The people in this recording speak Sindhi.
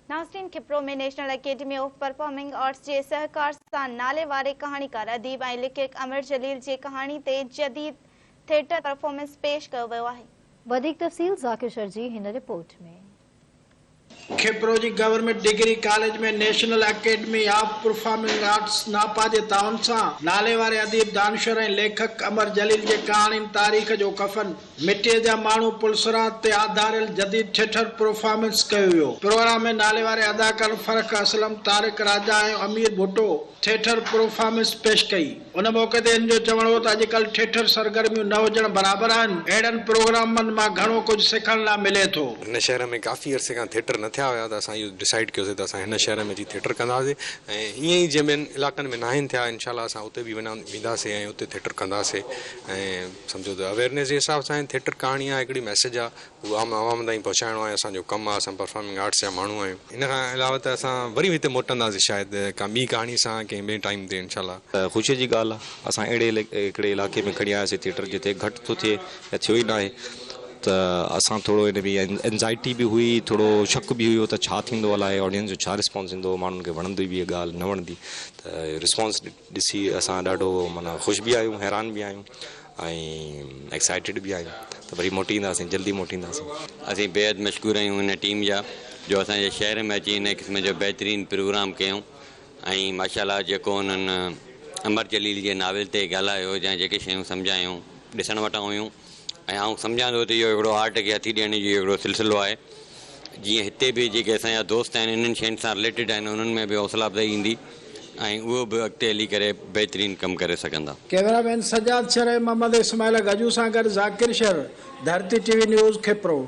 ناصرين Khipro ۾ National Academy of Performing Arts جي سهڪار سان ناليواري ڪهاڻيڪار، اديب ۽ ليکڪ امر جليل جي ڪهاڻي تي جديد ٿيٽر پرفارمنس پيش ڪيو ويو آهي. وڌيڪ تفصيل ذاڪر شر جي هن رپورٽ ۾. کپرو جي government degree college ۾ National Academy of Performing Arts, NAPA, جي تعاون سان ناليواري اديب، دانشور ۽ ليکڪ امر جليل جي ڪهاڻين تاريخ جو ڪفن، مٽيء جا ماڻهو پلسرات تي آڌاريل جديد ٿيٽر پرفامنس ڪيو ويو. پروگرام ۾ ناليواري اداڪارن فرخ اسلم، طارق راجا ۽ امير ڀٽو ٿيٽر پرفامنس پيش ڪئي. ان موقعي تي هن جو چوڻ هو ته اڄڪلهه ٿيٽر سرگرميون نه هجڻ برابر آهن، اهڙن پروگرامن مان گهڻو ڪجهه سکڻ لا ملي ٿو. هن شهر ۾ ڪافي عرصي کان ٿيٽر نه ٿيا هيا ته اسان اهو ڊسائيڊ ڪيوسي ته اسان هن شهر ۾ اچي ٿيٽر ڪنداسي ۽ ائين ئي جنهن ٻين علائقن ۾ ناهن ٿيا انشاء الله اسان اتي به وينداسي ۽ اتي ٿيٽر ڪنداسي ۽ سمجهو ته اويرنيس جي حساب سان ٿيٽر ڪهاڻي آ هڪڙي ميسيج آ هو عام عوام تائين پهچائڻو آهي اسان جو ڪم آ اسان پرفارمنگ آرٽس جا ماڻهو آهيون. ان کان علاوه ته اسان وري هتي موٽنداسين شايد ڪا ٻي ڪهاڻي سان ڪنهن ٻئي ٽائيم تي انشاء الله. خوشي جي ڳالهه آ اسان اهڙي هڪڙي علائقي ۾ کڻي آياسين ٿيٽر جتي گهٽ ٿو ٿئي يا ٿيو ئي ناهي ته اسان ٿورو ان بي انزائٽي به هئي ٿورو شڪ به هيو ته ڇا ٿيندو الائي آڊينس جو ڇا رسپانس ايندو ماڻهن کي وڻندي به هي ڳالهه نه وڻندي ته رسپانس ڏسي اسان ڏاڍو معنيٰ خوش به آهيون حيران به آهيون ۽ ايڪسائيٽيڊ به آهيون ته وري موٽي اينداسين جلدي موٽي اينداسين. اسين بيحد مشڪور آهيون هن ٽيم جا جو اسان جي شهر ۾ اچي هن قسم جو بهترين پروگرام ڪيائون ۽ ماشاء الله جيڪو انهن امر جليل جي ناول تي ڳالهايو يا جيڪي شيون سمجهايائون ڏسڻ وٽان هيون ۽ آئون سمجهان ٿو ته اهو هڪڙو آرٽ کي هٿي ڏيڻ جو اهو هڪڙو سلسلو آهي، جيئن هتي به جيڪي اسان جا دوست آهن انهن شين سان رليٽيڊ آهن انهن ۾ به حوصلا افزائي ايندي ۽ اهو به اڳتي هلي ڪري بهترين ڪم ڪري سگهندا. ڪيمرا مين سجاد شر ۽ محمد اسماعيل گجو سان گڏ Zakir Shar, Dharti T V news, Khipro.